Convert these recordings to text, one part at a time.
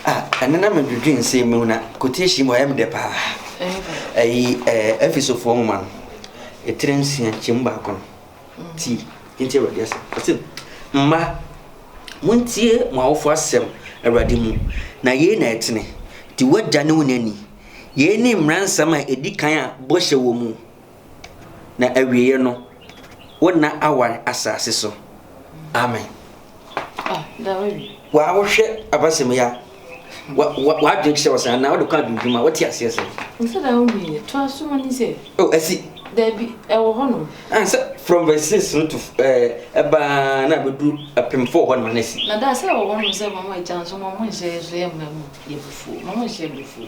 Ah, ɛno na medwedwe nsɛm mu na quotation mu ɔyɛ me dɛ paa. Ɛyi ɛɛ Efesofoɔ nwoma no, etire nsia kyɛmu baako no. Ti, nti Awurade asɛm. Ɔse, Mma, montie mo awofoɔ asɛm Awurade mu, na yei na ɛtene. Di w'agya ne wo na ni. Yei ne mmara nsɛm a ɛdi kan a bɔhyɛ wɔ mu. na awieɛ no wo nna awan asase so amen ah, waa wohwɛ abasɛm ya wadwen kyerɛ wɔ sɛ anaa wode kɔ adwendwuma wote aseɛ sɛ asi dabi ɛwɔ hɔ nom ansɛ from verse six no to ɛbaa na bɛduru apem fo hɔ noma no asi na daa sɛ ɛwɔ hɔ nom sɛ mama agya nso mama nhyɛ so yɛ mma mu yɛ bufuo mama nhyɛ bufuo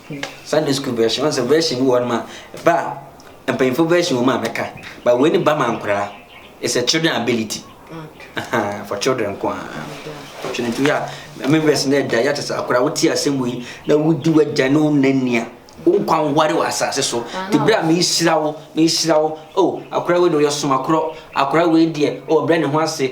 Sunday school version ɔn sɛ version bi wɔ hɔ nom a ba a mpanyinfo version wɔ mu a mɛka ba wei ne ba ma nkoraa it's a children ability okay. for children nko a twene nti yɛ a ɛmɛ version na ɛda yɛ te sɛ akoraa wote asɛm wei na wodi wagya ne wo nania wo nkwa nware wɔ asase so te berɛ a mehyira wo mehyira wo o oh, akoraa wei deɛ ɔyɛ somakorɔ akoraa wei deɛ ɔbrɛ oh, ne ho ase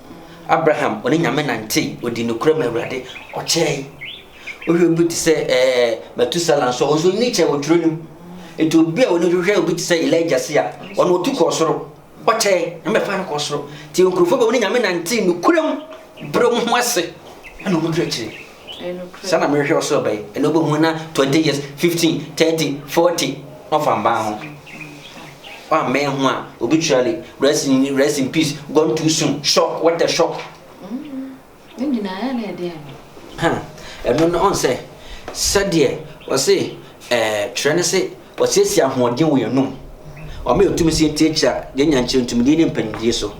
Abraham ɔne Nyame nantee, ɔdii nokorɛ ma Awurade, ɔkyɛɛe. Wohwɛ obi te sɛ ɛɛ Matusala nso a, ɔnso nni kyɛɛ wɔ twerɛ no mu. Enti obi a ɔni hwehwɛ obi te sɛ Elijah se a, ɔno ɔtu kɔɔ soro, ɔkyɛɛe, Nyame bɛfaa no kɔɔ soro. Nti nkorɔfoɔ bi a ɔne Nyame nantee nokorɛ mu, brɛ ɔmo ho ase, ɛna ɔmo kyerɛkyerɛ. Sɛ na mehwehwɛ ɔsoro bɛn ɛna wobɛhu na 20 years 15 30 40 na ɔfa mbaa ho wammɛn ho a obi twirale rest in rest in peace gone too soon shock what a shock ɛno no ɔn sɛ sɛdeɛ wɔse eh, twerɛ no se Ɔsiesie ahoɔden wɔ yɛn anom. Ɔma yɛn tumi sɛ yɛntie akyira, yɛn nyankyerɛ, ntumidie ne mpanimdie so.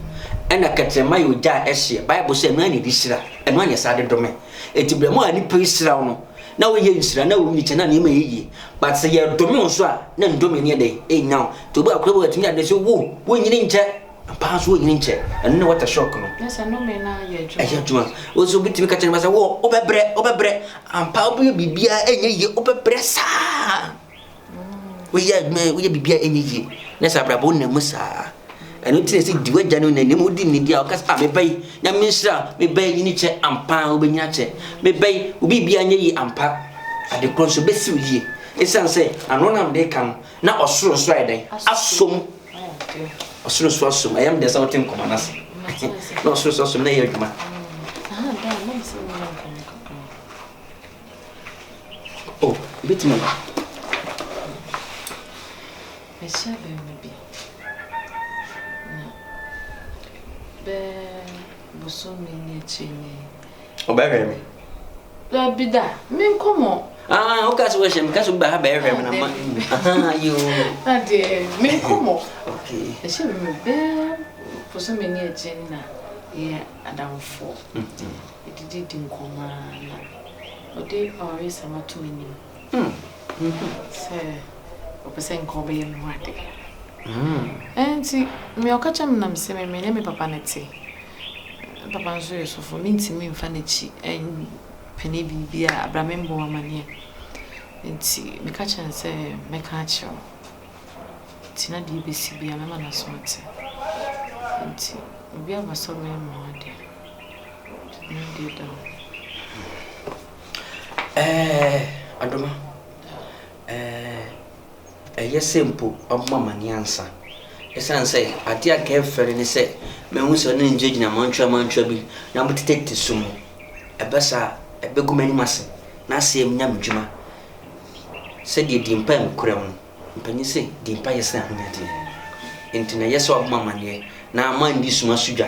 Ɛna kɛtrɛma yɛ ogya a ɛhye. Bible sɛ ɛno ara na ɛde hyira, ɛno ara na ɛsan de dome. Enti berɛ mu a nnipa yi hyira wo no, na woyɛ nhyira, na wo nyikyɛ, na nneɛma yɛ yie. But sɛ yɛdome wo nso a, na nnome no yɛ dɛn? Ɛnnya wo. Nti obi a ɔkora bi wɔ atumi de ade sɛ, wo, wonyini nkyɛ. Ampa ara nso wɔnnyini nkyɛ. Ɛno ne water shock no. Na sɛ nnome no ayɛ adwuma. Ɛyɛ adwuma. Wo nso wobɛtumi ka kyerɛ nnipa sɛ wo wobɛbrɛ, wobɛbrɛ. Ampa ara wobɛyɛ biribiara ɛnyɛ yie, wobɛbrɛ saa. Woyɛ adwuma, woyɛ biribiara ɛnyɛ yie. Na sɛ abrabɔ wonam mu saa. Ɛno nti na ɛsɛ di w'agya no nani. Ɛmu wodi nidi a woka sɛ, ah meba yi, Nyame nhyira, meba yi nyini kyɛ. Ampa ara wobɛnyini akyɛ. Meba yi, wo biribiara nyɛ yie ampa. Ade korɔ nso, ɛbɛsi wo yie. Ɛsiane sɛ ano na mede reka no, Na ɔsoro nso ayɛ dɛn? Asom. Ɔsoro nso asom. Ɛyɛ mdeɛ sɛ wote nkɔmɔ no ase. Na ɔsoro nso asom na ɛyɛ adwuma. Oh, ɛbɛtumi aba. Ɛhyɛ bɛmɛ bi. Na bɛɛ bosome ne akyiri ne Ɔbɛhwɛ me. Dabi da, me nkɔ mɔ. Ah, o ka se o shem, ka se o ba ha ba ehwe me na ma. Ah, yo. Ade, me nkɔ mɔ. Okay. E se me be po so me ni eje ni na ye adamfo. E di di di nkoma na. Ode ori sama to me ni. Sɛ ɔpɛ sɛ nka ɔbɛyɛ me ho ade. Ɛnti me ɔka kyerɛ me na me se me me ne me papa ne te. Me papa nso yɛ sɔfo me ntumi nfa n'akyi pene biribi a bra me mbɔ wo amaneɛ. Ɛnti me ka kyerɛ no sɛ me ka akyerɛ wo. Ɛnti na deɛ ɛbɛsi bia me ma no aso ate. Ɛnti obi aba sɛ ɔbɛyɛ me ho ade. Ɛnti na deɛ ɛda hɔ. Ɛɛɛɛ Adoma, ɛɛɛɛ ɛyɛ sɛ mpo wabɔ amanneɛ ansa. Esiane sɛ adeɛ a anka ɛmfɛ no ne sɛ mahu sɛ ɔne no gyinagyina mantwa mantwa bi na motetete sum mu. Ɛba saa a, ɛbɛgu m'anim ase na asɛe m'enyam dwuma. Sɛdeɛ dii mpa nkuram no, mpanin se dii mpa yɛ sene ahonyadeɛ. Enti na ɛyɛ sɛ wabɔ m'amanneɛ na manni suma so dwa.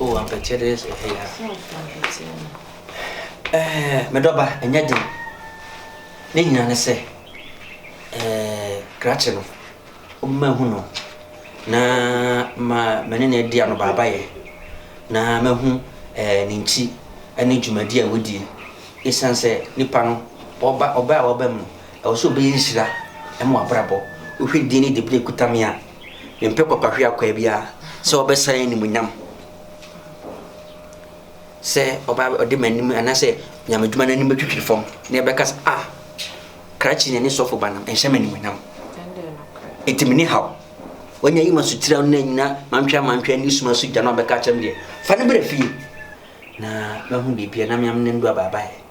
Oh, ampɛkyɛ dɛ yɛsɛ ɔhɛ ya. Ɛɛ, me dɔba, ɛnyɛ den. Ne nyina ne sɛ, ɛɛ, krakye no, wobɛma hu no, na ma mene ne adi ano baabayɛ, na mahu ɛɛ ne nkyi ne dwumadi a wadi. Esiane sɛ nipa no, ɔba ɔba a ɔba mu no, Ɛwɔ sɛ ɔbɛyɛ nhyira ma w'abrabɔ. Wohwɛ din ne dibere a ɛkuta me a, mempɛ kwakwahweakwaa biara sɛ ɔbɛsan animuonyam, sɛ ɔba ɔde m'anim anaasɛ nyamedwuma no anim bɛtwitwiri fam na ɛbɛka sɛ, ah, krakye na ne sɔfo ba nam, ɛnhyɛ me animuonyam. Enti me ne haw. Wanya yi ma sotira no na nyina mantwe amantwe ne suma so gya no a bɛka kyerɛ me deɛ, fa ne brɛ fie na mahu biribi a na meam ne ndo abaabaeɛ.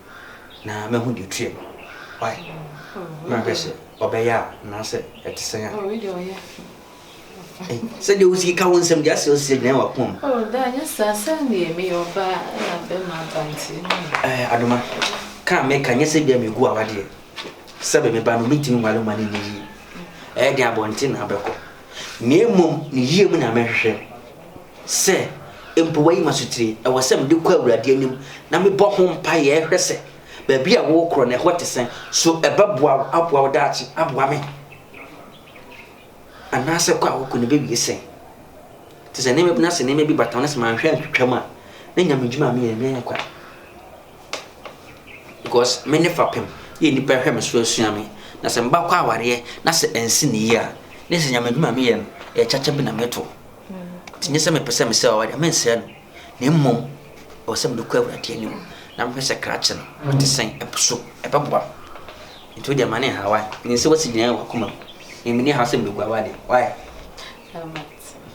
na mahu deɛ ɔtua mu. Why? Na ahwɛ sɛ ɔbɛyɛ a anaasɛ ɛte sɛn a. Sɛdeɛ wosi ka wo nsɛm deɛ asɛ ɔsi agyina w'akoma mu. Oh, da nyɛ saa sɛn deɛ meyɛ ɔbaa na bɛma abanteɛ mu. Eh, Adoma, ka a meka nyɛ sɛ bia megu awadeɛ. Sɛbe me ba no mentumi nwale ma no nni yie. Ɛyɛ den abɔnten na abɛkɔ. Mmea mmom ne yie mu na mɛhwehwɛ. Sɛ mpo woayi m'asotire, ɛwɔ sɛ mede kɔ Awurade anim na mebɔ ho mpaeɛ hwɛ sɛ baabi a worekorɔ no, ɛhɔ te sɛn. So ɛbɛboa wo aboa wo daakye aboa me? Anaasɛ kɔ a wokɔ no bɛwie sɛn? Te sɛ nneɛma bi na sɛ nneɛma bi bata wo na sɛ manhwɛ antwitwam a, na nya me dwuma a meyɛ no ɛnyɛ kwa. Because me ne fapem yɛ nnipa hwɛ me so asua me. Na sɛ meba kɔ awareɛ na sɛ ansi ne yie a, na sɛ nya me dwuma a meyɛ no, ɛyɛ kyakya bi na meto. Nti nyɛ sɛ mepɛ sɛ mesrɛ Awurade a, mensrɛ no, na mmom ɛwɔ sɛ mede kɔ Awurade anim na mehwɛ sɛ krakye no ɔte sɛn, ɛpo so, ɛbɛboa me. Nti wode ɛma ne nhaw a, menim sɛ woasi gyinae wɔ w'akoma mu, na menni haw sɛ mebɛgua w'ade. Why?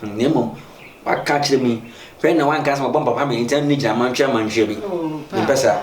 Hmm, na mmom woaka akyerɛ me, hwɛ na woanka sɛ mabɔ mpaboa ma ɛnti na menni gyina mantwe amantwe bi. Mempɛ saa.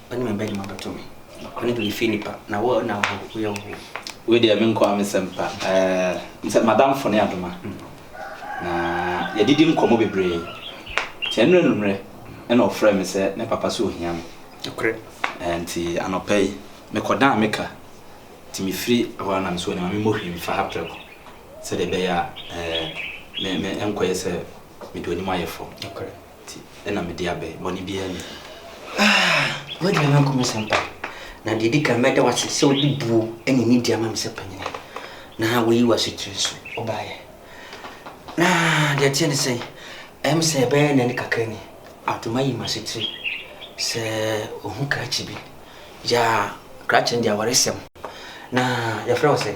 Ɔne me bɛde ma bɛto me. Nokore deɛ efiri nipa na wo na wo ho yɛ wo ho. Wei deɛ me nko ara me sɛm pa ɛɛ sɛ madamfo ne adoma na yɛdidi nkɔmɔ bebree nti ɛnora nummerɛ ɛna ɔfrɛ me sɛ ne papa sɛ ohia me nokore ɛɛ nti anɔpa yi me kɔ dan me ka nti me firi hɔ ara na me sɛ ɔne ma me mmɔ hwii mfa ha prɛko sɛdeɛ ɛbɛyɛ a ɛɛ me me ɛnkɔ yɛ sɛ me de onim ayɛ fɔɔ. Nti na mede aba yi, bɔne biara nni mu. Ah, w'aduane no anko me sɛ mpa. Na deɛ ɛdi kan, mɛda wo ase sɛ wode buo ne nidi ama me sɛ panin, na woayi w'asekyerɛ su baeɛ. Na deɛ ɛteɛ ne sɛ, ɛm sɛ ɛbɛyɛ nnɛ ne kakra ni, ato mayi m'asekyerɛ sɛ ohu krakye bi. Yaa, krakye no deɛ awaresɛm. Na yɛfrɛ wo sɛn?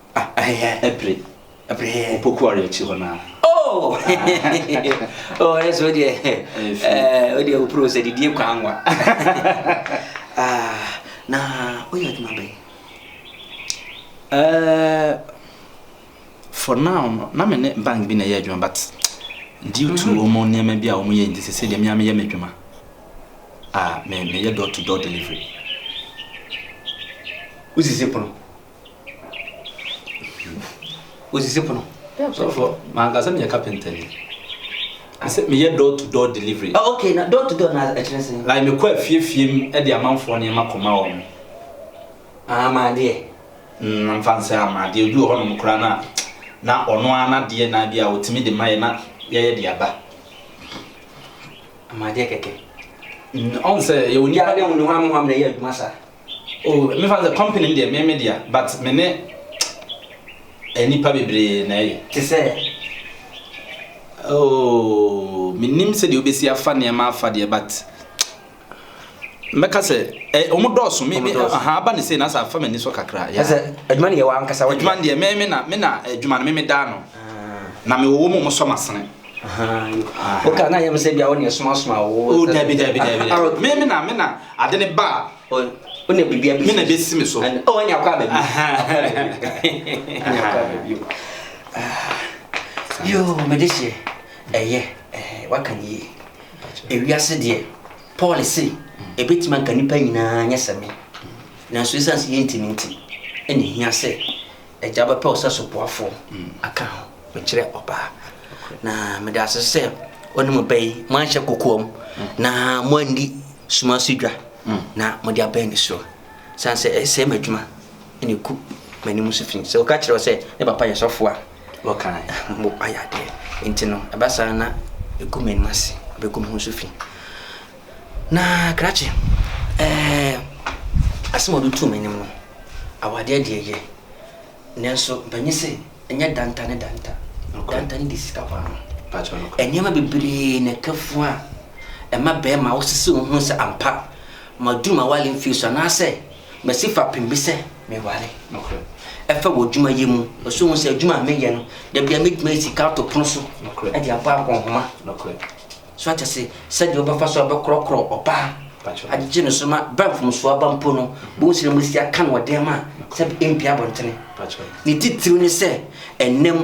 Ah, ɛhɛhɛ, ɛpere. Ɛpere. Opoku ɔre akyi hɔ naa. Oh! oh, ɛsɛ o deɛ, ɛɛ, o deɛ o pro sɛ didie kwan nwa. Ah, na o yɛ adwuma bɛn? Ɛɛ, for now no, na me ne bank bi na ɛyɛ adwuma but due to wɔn mm-hmm. nneɛma bi a wɔn yɛ nti sɛ deɛ mmea meyɛ m'adwuma a meyɛ door to door delivery wosisi pono osisi pono sɔfo mankasa meyɛ carpenter ni sɛ meyɛ door to door delivery oh, okay na door to door na ɛkyerɛ sɛ like mekɔ afiefie mu de amanfoɔ nneɛma kɔma wɔn amadeɛ mm, mfa nsɛ amadeɛ obi wɔ hɔnom koraa no a na ɔno ara n'adeɛ na bi a ɔtumi de ma yɛ na yɛyɛ de aba amadeɛ kɛkɛ ɔn sɛ yɛwɔ nipa ne ho ne ho amammerɛ yɛ adwuma saa Oh me fa sɛ company deɛ me me dea but me ne nipa bebree na ɛyɛ. Te sɛ. Oh me nim sɛ deɛ obesi afa nneɛma afa deɛ but mɛka sɛ ɛ wɔn dɔɔso me me aha aba ne sei na sɛ afa m'ani so kakra. Yɛ sɛ adwuma ne yɛ wɔn ankasa wɔn. Adwuma deɛ me me na me na adwuma no me me daa no ah. na me wɔ wɔn wɔn sɔ masene. woka na yɛm sɛ bia wone ɛsomasoma wo dabi dabi dabi me me na me na ade ne ba a wone biribia bɛsi me na bɛsi me so ɔne akɔ aba bio yo mede hyɛ ɛyɛ waka ne yie ewiase deɛ paul se ɛbɛtumi anka nnipa nyinaa nyɛ sɛ me nanso ɛsiane sɛ yɛntimi nti ɛne hia sɛ agya bɛpɛ wo sɛ soboafo aka ho. Mekyerɛ ɔbaa. Na meda ase sɛ ɔne mo bɛyi moanhyɛ kokoam na moanni suma so dwa na mode abɛn ne so. San sɛ ɛsɛe m'adwuma na ɛku m'anim so fi. Sɛ ɔka kyerɛ wo sɛ ne papa yɛ sɔfo a, ayɛ adeɛ. Nti no ɛba saa na ɛgu m'anim ase, ɛbɛgu me ho so fi. Na krakye, ɛɛ, asɛm a wɔde too m'anim no, awadeɛ deɛ yɛ, nanso mpanyin se, ɛnyɛ danta ne danta. Danta ne de sika kɔ ano. Nneɛma bebree na ɛka fun a ɛma barima wosisi wo ho sɛ ampa maduru m'awale mfie so anaasɛ masi fapem bi sɛ meware. Ɛfa wɔ adwuma yɛ mu, ɛsɛ hu sɛ adwuma a meyɛ no, da biara metumi ayi sika ato pono so de abɔ akɔnhoma. So ate ase sɛdeɛ wobɛfa so a wobɛkorɔkorɔ ɔbaa agyegye no so ma berɛ a mfomsoɔ aba mpo no bohu sɛ na moasi aka no ɔden ma sɛ ɛmpia abɔntene ne titiriw ne sɛ ɛnam